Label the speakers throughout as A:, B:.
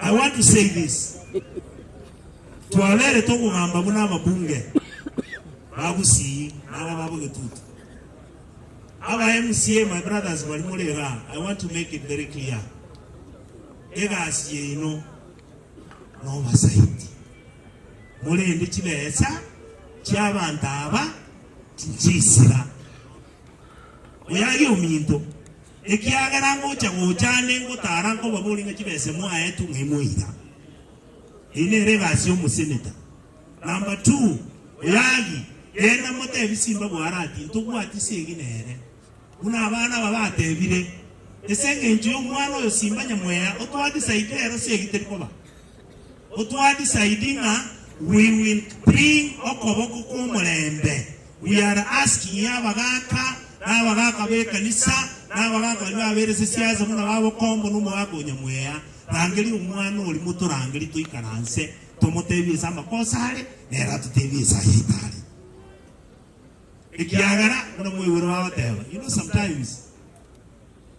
A: I want to say this, twaberete okogamba buna ababunge ba Gusii naga babo Getutu. Aba MCA my brothers bari more igaa, I want to make it very clear, egasi yaino nobasaiti, morende chibesa chiabanto aba tinchiisira, oyo aria ominto. Ekiagera ngocha gocha ande ngotaara nkobabori ng'a chibese mwaetwe ng'ai moira. Eye nere egasi y'omoseneta. Number two, Oyagi, genda motebi simba bwarati, ntobwati segi nere. Buna abana aba batebire, Ese engencho y'omwana oyo simba nyamweya, otwati saito ero segi teri koba. O twadisaidi ng'a we will bring okoboko kw'omorembe, we are asking y'abagaaka, n'abagaaka b'ekanisa, n'abagaaka baria babeire sesiasa buna ba Bokombo na Omogaaka o Nyamweya, rangeria omwana oria motorangerie toikaranse, tomotebie ase amakosa are, nere atotebie ase ayaito are. Ekiagera buna mwaigure bagoteba, you know sometimes.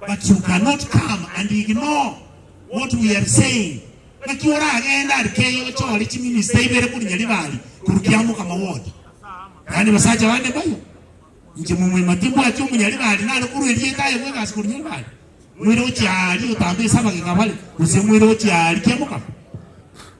A: But you cannot come and ignore what we are saying, naki oragende aria keyio ochore chiminista ibere kori nyaribari korukia omokama bwoti. Yaani basacha bande mbayo, inche momwema timbwati omonyaribari nare korwa erieta aye bwegasi kori nyaribari, moire gochia aria otambe esabageka bare, gose moire gochia aria kia omokama.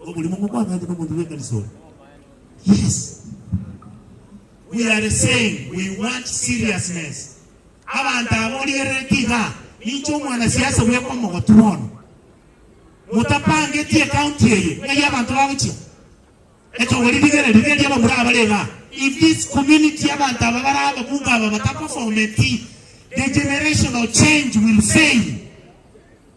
A: Omorimo ng'omwanake nomonto bw'ekanisa one. Yes. We are saying we want seriousness. Abanto aba orierereti iga, ninche omwanasiasa bweka omogotu bono. Motapangeti ecounty eye ng'ai abanto bagochia. Etogori rigere rigeri aba muri abare iga. If this community abanto aba bare ababunge aba bataperformeti, the generational change will fail.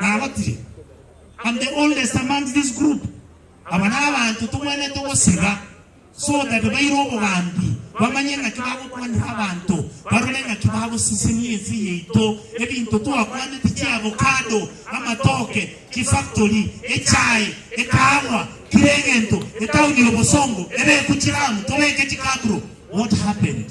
A: Nabotire, And the oldest among this group, aba nabanto togwenerete ogoseba, so that baire obogambi, bamanye ng'aki bagokwanera abanto, barore ng'aki bagosisenia ense yaito, ebinto twakwanete chiavocado, amatoke, chifactory, echae, ekahawa, kera egento, etauni y'obosongo, ebeku chiramu, tobeke chikabro. What happened?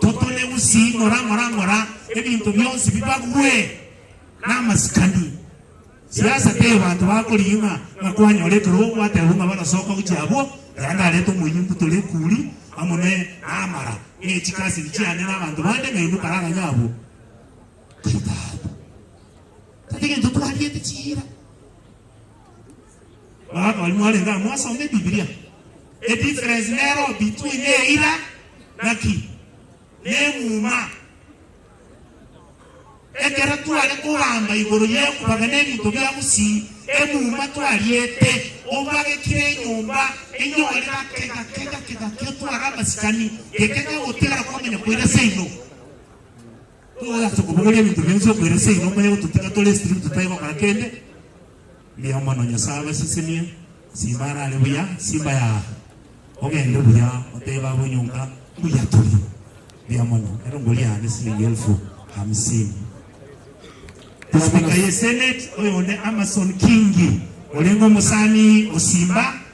A: Totorie gusingora ngora ngora ebinto bionsi bibagwe namasikani. Siasa tei abanto bakorigia ng'a ng'a kwanyora ekerogo gwatebwa ng'a barasoka gochia abwo, aya ndarete omoyio mbutore ekuri amo ne namara ne chikasiri chiane na abanto bande ng'a inde karaganya abwo. Tari tata. Tari gento twariete chiira. Barabwo baria mwarenge aa mwasoma Ebibilia, edifference nero between eira naki? Nemuma. Ekero tware kogamba igoro y'ekobaga nebinto bia gusii, emuma twariete, obagekire enyomba enyore gake gake gake gake otware amasikani, geke kegotigara kwamanya koira seino. Togokora ase okobogoria ebinto bionsi okoira seino okonya gototiga tore strip totae gokora kende, mbuya mono Nyasae abasisimie, Simba arare buya, Simba yaa, ogende buya otebe abwo nyomba mbuya turi, mbuya mono, ero ngoria yane silingi elfu hamsini. Speaker ye Senate oyonde Amason Kingi orenge omosani o Simba.